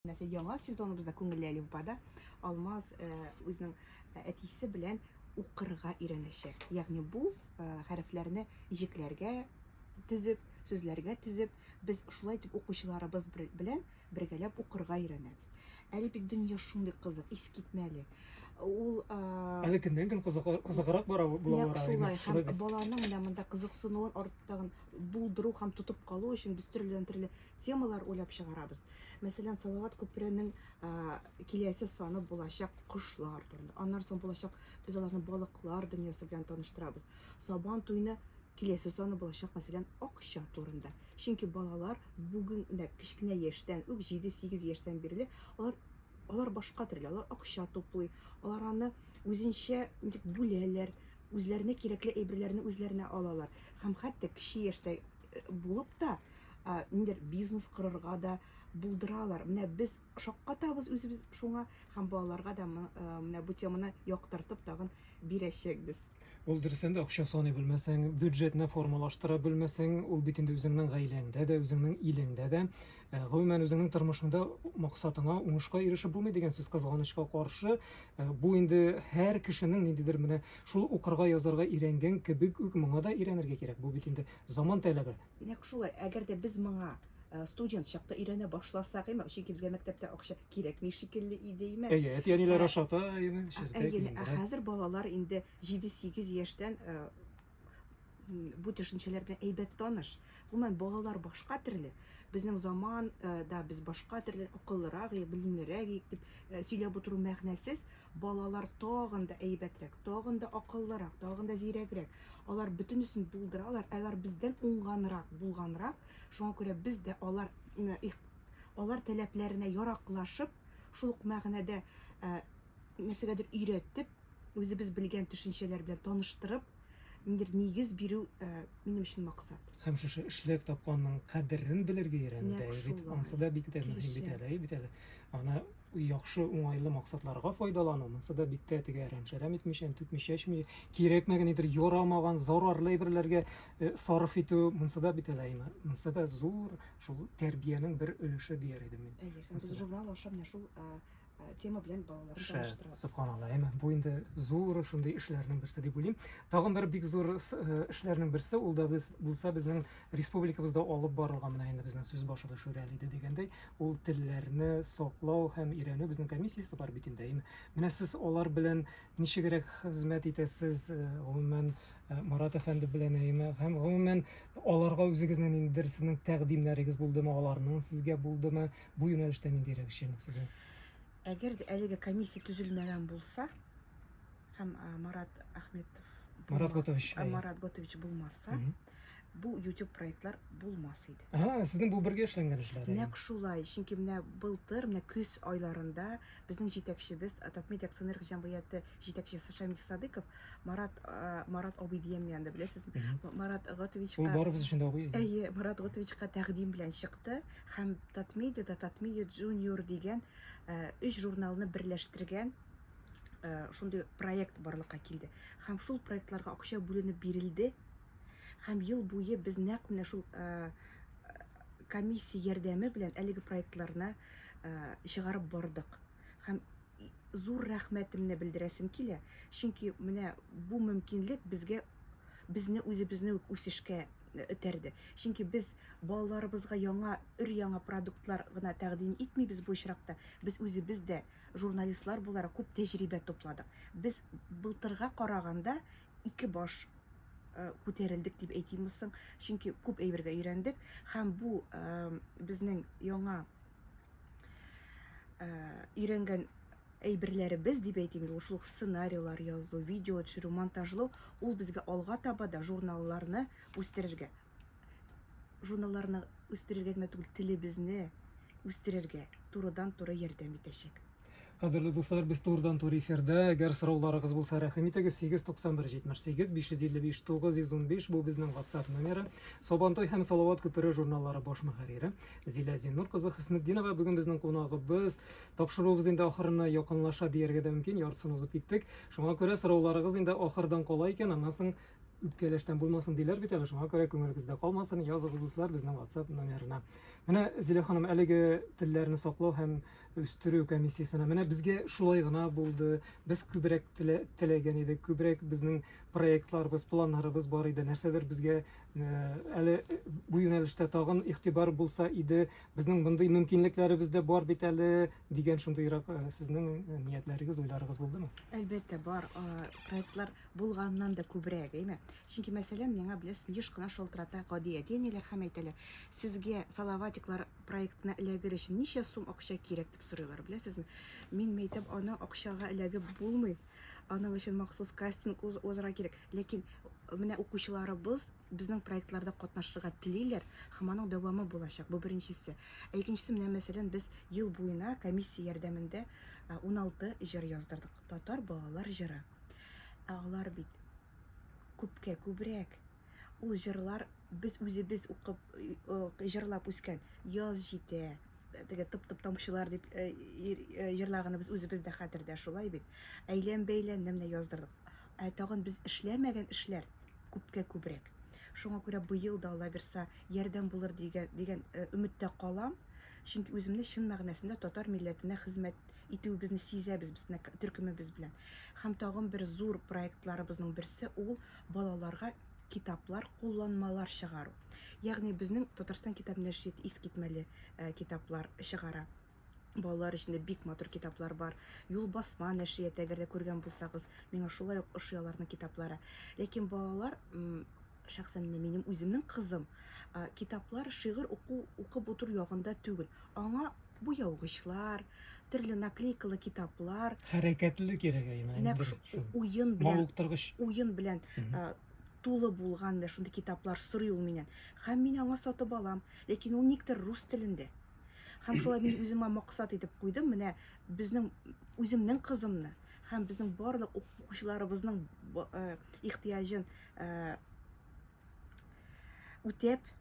Менә яңа сезоныбыз да күңелле әле Уфада. Алмаз үзенең әтисе белән укырга өйрәнәчәк. Ягъни бу хәрефләрне иҗекләргә төзеп, сүзләргә төзеп, без шулай итеп укучыларыбыз белән бергәләп укырга өйрәнәбез. Әле бит дөнья шундый кызык, искитмәле. Ул Әле көннән-көн кызыграк бара була бара. Шулай һәм баланың менә монда кызыксынуын арттагын булдыру һәм тотып калу өчен без төрледән-төрле темалар уйлап чыгарабыз. Мәсәлән, Салават күперенең киләсе саны булачак кошлар турында. Аннан соң булачак без аларны балыклар дөньясы белән таныштырабыз. Сабан туйны киләсе саны булачак, мәсәлән, акча турында. Чөнки балалар бүген дә кечкенә яшьтән үк 7-8 яшьтән бирле алар алар башка төрле, алар акча туплый, алар аны үзенчә ничек бүләләр, үзләренә кирәкле әйберләрне үзләренә алалар һәм хәтта кече яшьтә булып та ниндер бизнес корырга да булдыралар. Менә без шаккатабыз үзебез шуңа һәм балаларга да менә бу теманы яктыртып тагын бирәчәкбез. Ул дөрестән дә акча саный белмәсәң, бюджетны формалаштыра белмәсәң, ул бит инде үзеңнең гаиләңдә дә, үзеңнең илеңдә дә Э, гомумән үзеңнең тормышыңда максатыңа уңышка ирешеп булмый дигән сүз кызганычка каршы э, бу инде һәр кешенең ниндидер менә шул укырга язарга өйрәнгән кебек үк моңа да өйрәнергә кирәк бу бит инде заман таләбе нәкъ шулай әгәр дә без моңа э, студент чакта өйрәнә башласак име чөнки безгә мәктәптә акча кирәкми шикелле иде име әйе әти әниләр ашата әйе әйе ә хәзер балалар инде җиде сигез яшьтән бу төшенчәләр белән әйбәт таныш. Гомумән, балалар башка төрле. Безнең заман э, да без башка төрле акыллырак, белемлерәк дип э, сөйләп утыру мәгънәсез. Балалар тагын да әйбәтрәк, тагын да акыллырак, тагын да зирәгрәк. Алар бөтенесен булдыралар, алар бездән уңганрак, булганрак. Шуңа күрә без дә алар алар таләпләренә яраклашып, шул ук мәгънәдә э, нәрсәгәдер өйрәтеп, үзебез белгән төшенчәләр белән таныштырып, ниндидер нигез бирү э, минем өчен максат. Һәм шушы эшләп тапканның кадерен белергә өйрәнү дә бит, ансы да бик тә мөһим бит әле, бит әле. Аны яхшы уңайлы максатларга файдалану, монсы да бик тә теге әрәм-шәрәм итмичә, түкмичә, эчмичә, кирәкмәгән нидер ярамаган, зарарлы әйберләргә э, сарыф итү, монсы да бит әле, монсы да зур шул тәрбиянең бер өлеше дияр идем мин. Әйе, һәм без журнал аша менә шул э, Э, тема белән балаларны таныштырабыз. Субханалла, әмма бу инде зур шундый эшләрнең берсе дип уйлыйм. Тагын бер бик зур э, эшләрнең берсе, ул да без булса безнең республикабызда алып барылган менә инде безнең сүз башлы Шүрәли иде дигәндәй, ул телләрне саклау һәм өйрәнү безнең комиссиясе бар бит инде. Менә сез алар белән ничегрәк хезмәт итәсез, э, гомумән Марат әфәнде белән әйме һәм гомумән аларга үзегезнең ниндидер сезнең тәкъдимнәрегез булдымы, аларның сезгә булдымы, Бу юнәлештә ниндирәк эшчәнлек сезнең? Әгәр дә әлеге комиссия төзелмәгән булса һәм Марат Ахметов Марат Готович. Марат Готович булмаса, бу YouTube проектлар булмас иде. Ага, сезнең бу бергә эшләнгән эшләр. Нәкъ шулай. Чөнки менә былтыр, менә көз айларында безнең җитәкчебез Татмед акционерлык җәмгыяте җитәкчесе Шамил Садыков Марат Марат абый дигән янда беләсезме? Марат Готовичка. Ул барыбыз өчен дә абый. Әйе, Марат Готовичка тәкъдим белән чыкты. һәм Татмедиада Татмедиа Junior дигән өч журналны берләштергән шундый проект барлыкка килде. Һәм шул проектларга акча бүленеп бирелде. Һәм ел буе без нәкъ менә шул комиссия ярдәме белән әлеге проектларны чыгарып бардык. Һәм зур рәхмәтемне белдерәсем килә, чөнки менә бу мөмкинлек безгә безне үзебезне үк үсешкә этәрде. Чөнки без балаларыбызга яңа, өр-яңа продуктлар гына тәкъдим итмибез бу очракта, без үзебез дә, журналистлар буларак, күп тәҗрибә тупладык. Без былтырга караганда ике баш күтәрелдек дип әйтимме соң, чөнки күп әйбергә өйрәндек һәм бу безнең яңа ә, өйрәнгән әйберләребез дип әйтим ул шул сценарийлар язу видео төшерү монтажлау ул безгә алга таба да журналларны үстерергә журналларны үстерергә генә түгел телебезне үстерергә турыдан туры ярдәм итәчәк Кадерле дуслар, без турдан тур эфирдә. Әгәр сорауларыгыз булса, рәхим итегез. 891 78 555 915 бу безнең WhatsApp номеры. Сабантой һәм Салават күпере журналлары баш мөхәррире Зилә Зиннур кызы Хөснетдинова бүген безнең кунагыбыз. Тапшыруыбыз инде ахырына якынлаша дияргә дә мөмкин, яртысын узып киттек. Шуңа күрә сорауларыгыз инде ахырдан кала икән, аннан соң үпкәләштән булмасын диләр бит әле, шуңа күрә күңелегездә калмасын, языгыз дуслар безнең WhatsApp номерына. Менә Зилә ханым әлеге телләрне саклау һәм үстерү комиссиясенә. Менә безгә шулай гына булды. Без күбрәк теләгән идек, күбрәк безнең проектларыбыз, планнарыбыз бар иде. Нәрсәдер безгә э, әле бу юнәлештә тагын игътибар булса иде, безнең мондый мөмкинлекләребез дә бар бит әле дигән шундыйрак э, сезнең э, ниятләрегез, уйларыгыз булдымы? Әлбәттә, бар. Проектлар булганнан да күбрәк, әйме? Чөнки мәсәлән, миңа беләсез, еш кына шалтырата гади әти-әниләр һәм әйтәләр, сезгә салаватиклар проектына эләгер өчен ничә сум акча кирәк дип сорыйлар, беләсезме? Мин мәйтәм, аны акчага эләгеп булмый. Аның өчен махсус кастинг узарга кирәк. Ләкин менә укучыларыбыз безнең проектларда катнашырга телиләр һәм аның дәвамы булачак. Бу беренчесе. Ә икенчесе менә мәсәлән без ел буена комиссия ярдәмендә 16 җыр яздырдык. Татар балалар җыры. Ә алар бит күпкә күбрәк. Ул җырлар без үзебез укып, җырлап үскән. Яз җитә, теге тып-тып тамчылар дип җырлаганыбыз үзебез дә хәтердә, шулай бит. Әйлән-бәйлән менә яздырдык. Ә тагын без эшләмәгән эшләр күпкә күбрәк. Шуңа күрә быел да Алла бирса ярдәм булыр дигән дигән өметтә калам. Чөнки үземне чын мәгънәсендә татар милләтенә хезмәт итүебезне сизәбез безне төркемебез белән. Һәм тагын бер зур проектларыбызның берсе ул балаларга китаплар, кулланмалар чыгару. Ягъни безнең Татарстан китап нәшрияте искитмәле э, китаплар чыгара. Балалар өчен дә бик матур китаплар бар. Юл басма нәшрияте, әгәр дә күргән булсагыз, миңа шулай ук ошый аларның китаплары. Ләкин балалар шәхсән менә минем үземнең кызым китаплар, шигырь уку, укып утыру ягында түгел. Аңа буяугычлар, төрле наклейкалы китаплар, хәрәкәтле кирәк әйме. Нәкъ уен белән, мавыктыргыч. Уен белән тулы булган менә шундый китаплар сорый ул миннән. Һәм мин аңа сатып алам, ләкин ул никтер рус телендә. Һәм шулай мин үземә максат итеп куйдым, менә безнең үземнең кызымны һәм безнең барлык укучыларыбызның ихтыяҗын үтәп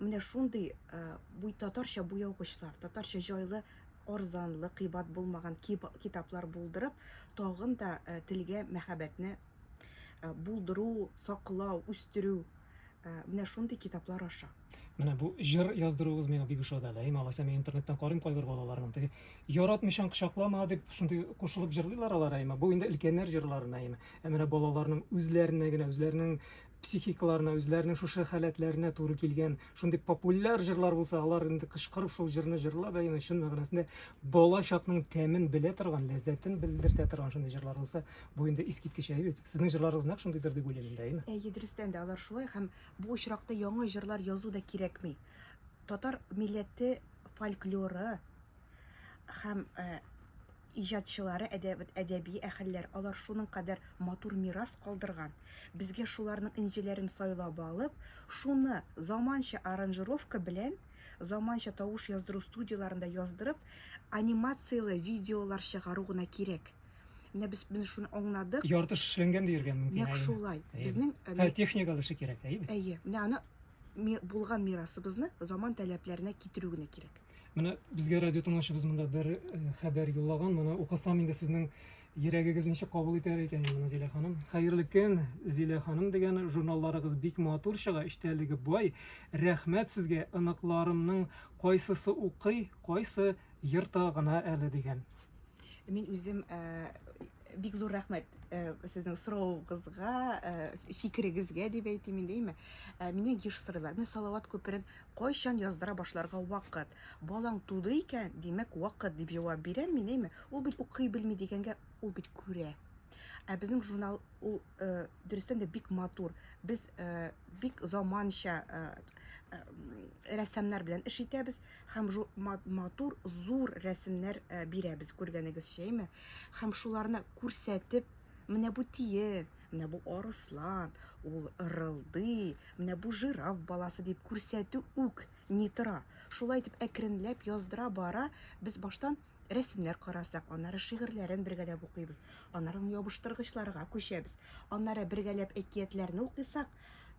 менә шундый бу татарча буяугычлар татарча җайлы арзанлы кыйбат булмаган китаплар булдырып тагын да телгә мәхәббәтне булдыру саклау үстерү менә шундый китаплар аша менә бу җыр яздыруыгыз миңа бик ошады әле әйме алайса мин интернеттан карыйм кайбер балаларның теге яратмыйчаң кочаклама дип шундый кушылып җырлыйлар алар әйме бу инде өлкәннәр җырларына әйме Ә менә балаларның үзләренә генә, үзләренең психикаларына, үзләренең шушы халәтләренә туры килгән шундый популяр җырлар булса, алар инде кычкырып шул җырны җырлап, әйме чын мәгънәсендә бала чакның тәмен белә торган, ләззәтен белдертә торган шундый җырлар булса, бу инде искиткеч әйе бит. Сезнең җырларыгыз нәкъ шундыйдыр дип уйлыйм инде, әйме? Әйе, дөрестән дә алар шулай һәм бу очракта яңа җырлар язу да кирәкми. Татар милләте фольклоры һәм э, Иҗатчылары әдәби әһелләр, алар шуның кадәр матур мирас калдырган, безгә шуларның энҗеләрен сайлап алып, шуны заманча аранжировка белән, заманча тавыш яздыру студияләрендә яздырып, анимацияле видеолар чыгару гына кирәк. Менә без менә шуны аңладык. Ярты эшләнгән диергә мөмкин. Нәкъ шулай. Безнең Һәр техникалар эше кирәк, әйеме? Әйе. Менә аны булган мирасыбызны заман таләпләренә китерү генә кирәк. Менә безгә радио тыңлаучыбыз монда бер э, хәбәр юллаган. Моны укысам инде сезнең йөрәгегез ничек кабул итәр икән инде моны Зилә ханым. Хәерле көн, Зилә ханым дигән журналларыгыз бик матур чыга, эчтәлеге бай. Рәхмәт сезгә, оныкларымның кайсысы укый, кайсы йырта гына әле дигән. Мин үзем э, бик зур рәхмәт э, сезнең сорауыгызга, э, фикерегезгә дип әйтим инде, әйме. Э, Мине еш сорыйлар. Менә Салават күперен Кайчан яздыра башларга вакыт? Балаң туды икән, димәк, вакыт, дип җавап бирәм мин, әйме? Ул бит укый белми дигәнгә, ул бит күрә. Ә безнең журнал ул э, дөрестән дә бик матур. Без э, бик заманча э, э, рәссамнар белән эш итәбез һәм жу, ма- матур, зур рәсемнәр э, бирәбез, күргәнегезчә, әйме? Һәм шуларны күрсәтеп, Менә бу тиен, менә бу арыслан, ул ырылдый, менә бу жираф баласы дип күрсәтү үк ни тора. Шулай итеп әкренләп яздыра бара, без баштан рәсемнәр карасак, аннары шигырьләрен бергәләп укыйбыз, аннары ябыштыргычларга күчәбез, аннары бергәләп әкиятләрне укыйсак,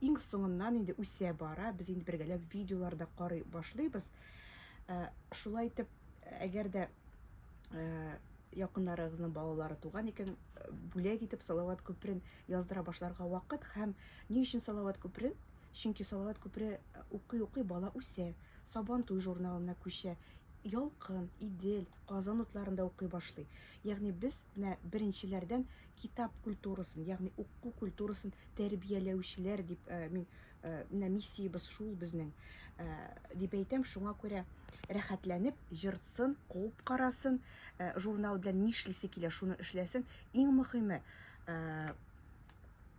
иң соңыннан инде үсә бара, без инде бергәләп видеолар да карый башлыйбыз. Э, шулай итеп, әгәр дә Э, якыннарыгызның балалары туган икән, э, бүләк итеп Салават күперен яздыра башларга вакыт һәм ни өчен Салават күперен? Чөнки Салават күпере э, укый-укый бала үсә, Сабан туй журналына күчә, Ялкын, Идел, Казан утларында укый башлый. Ягъни без менә беренчеләрдән китап культурасын, ягъни уку культурасын тәрбияләүчеләр дип э, мин Э, менә миссиябез шул безнең э, дип әйтәм шуңа күрә рәхәтләнеп ертсын куып карасын э, журнал белән нишлисе килә шуны эшләсен иң мөхиме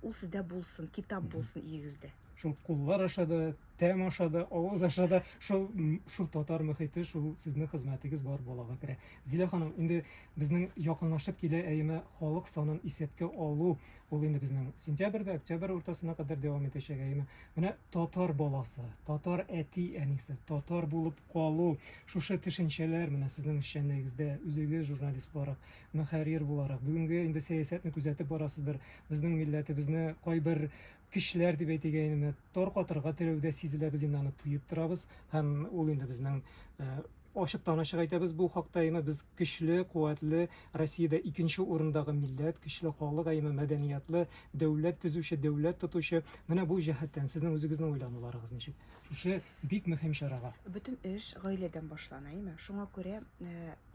ул сездә булсын китап булсын өегездә шул куллар аша да тәм аша да авыз аша да шул шул татар мөхите шул сезнең хезмәтегез бар балага керә зилә ханым инде безнең якынлашып килә әйеме халык санын исәпкә алу Ул инде безнең сентябрьдә, октябрь уртасына кадәр дәвам итәчәк әйеме. Менә татар баласы, татар әти әнисе, татар булып калу, шушы төшенчәләр менә сезнең эшчәнлегегездә үзегез журналист буларак, мөхәррир буларак, бүгенге инде сәясәтне күзәтеп барасыздыр. Безнең милләтебезне кайбер кешеләр дип әйтик әйе, менә таркатырга теләүдә сизелә, без инде аны тоеп торабыз һәм ул инде безнең э, Ачыктан ачык әйтәбез бу хакта, әйме без көчле, куәтле, Россиядә икенче урындагы милләт, көчле халык, әйме мәдәниятлы, дәүләт төзүче, дәүләт тотучы. Менә бу җәһәттән сезнең үзегезнең уйлануларыгыз ничек шушы бик мөһим чарага? Бөтен эш гаиләдән башлана, әйме. Шуңа күрә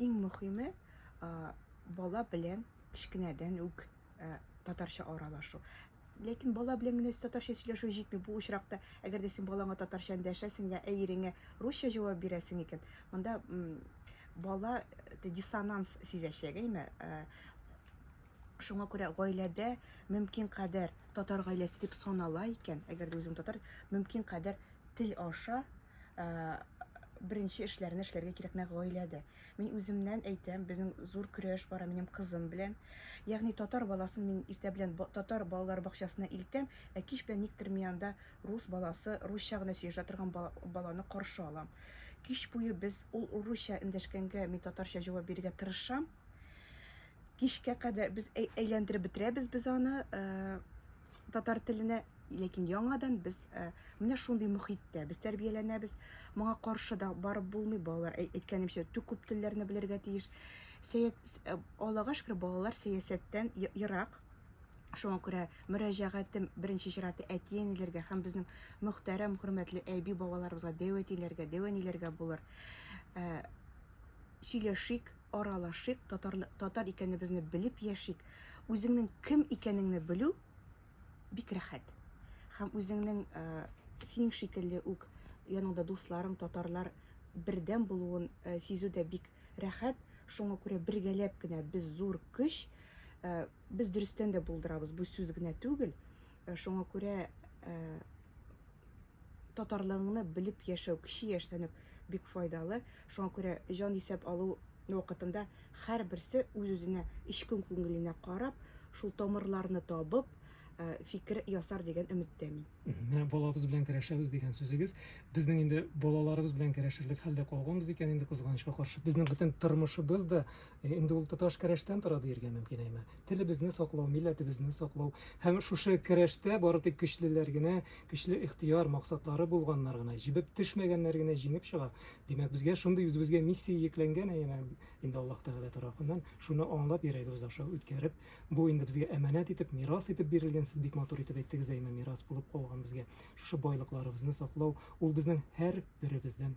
иң мөхиме бала белән кечкенәдән үк татарча аралашу. Ләкин бала белән генә татарча сөйләшү җитми бу очракта. Әгәр дә син балаңа татарча эндәшәсең я ә иреңә русча җавап бирәсең икән, монда бала диссонанс сизәчәк, әйме? Шуңа күрә гаиләдә мөмкин кадәр татар гаиләсе дип санала икән, әгәр дә үзең татар, мөмкин кадәр тел аша беренче эшләрне эшләргә кирәк нәкъ гаиләдә. Мин үземнән әйтәм, безнең зур көрәш бара минем кызым белән. Ягъни татар баласын мин иртә белән татар балалар бакчасына илтәм, ә кич белән никтер мин анда рус баласы, русча гына сөйләшә торган баланы каршы алам. Кич буе без ул русча эндәшкәнгә мин татарча җавап бирергә тырышам. Кичкә кадәр без әйләндереп бетерәбез без аны э, татар теленә. Ләкин яңадан без э, менә шундый мөхиттә без тәрбияләнәбез. Моңа каршы да барып булмый. Балалар әй- әйткәнемчә тү- күп телләрне белергә тиеш. Сәят, с- э, Аллага шөкер, балалар сәясәттән е- ерак. Шуңа күрә мөрәҗәгатем беренче чиратта әти-әниләргә һәм безнең мөхтәрәм, хөрмәтле әби-бабаларыбызга, дәүәтиләргә, дәүәниләргә булыр. Э, сөйләшик, аралашыйк, татарлы, татар икәнебезне белеп яшик. Үзеңнең кем икәнеңне белү бик рәхәт. Һәм үзеңнең ә, синең шикелле үк яныңда дусларың, татарлар бердәм булуын ә, сизү дә бик рәхәт. Шуңа күрә бергәләп кенә без зур көч, ә, без дөрестән дә булдырабыз, бу сүз генә түгел. Ә, шуңа күрә ә, татарлыгыңны белеп яшәү, кече яшьтән үк бик файдалы. Шуңа күрә җанисәп алу вакытында һәрберсе үз-үзенә, эчке күңеленә карап, шул тамырларны табып, фикер ясар дигән өметтә мин. Менә балабыз белән керәшәбез дигән сүзегез. Безнең инде балаларыбыз белән керәшерлек хәлдә калганбыз икән инде, кызганычка каршы. Безнең бөтен тормышыбыз да Э, инде ул тоташ керәштән тора диергә мөмкин әйме телебезне саклау милләтебезне саклау һәм шушы керәштә бары тик көчлеләр генә көчле ихтыяр максатлары булганнар гына җибеп төшмәгәннәр генә җиңеп чыга димәк безгә шундый үзебезгә миссия йөкләнгән әйме инде аллаһ тәгалә тарафыннан шуны аңлап йөрәгебез аша үткәреп бу инде безгә әманәт итеп мирас итеп бирелгән сез бик матур итеп әйттегез әйме мирас булып калган безгә шушы байлыкларыбызны саклау ул безнең һәр беребездән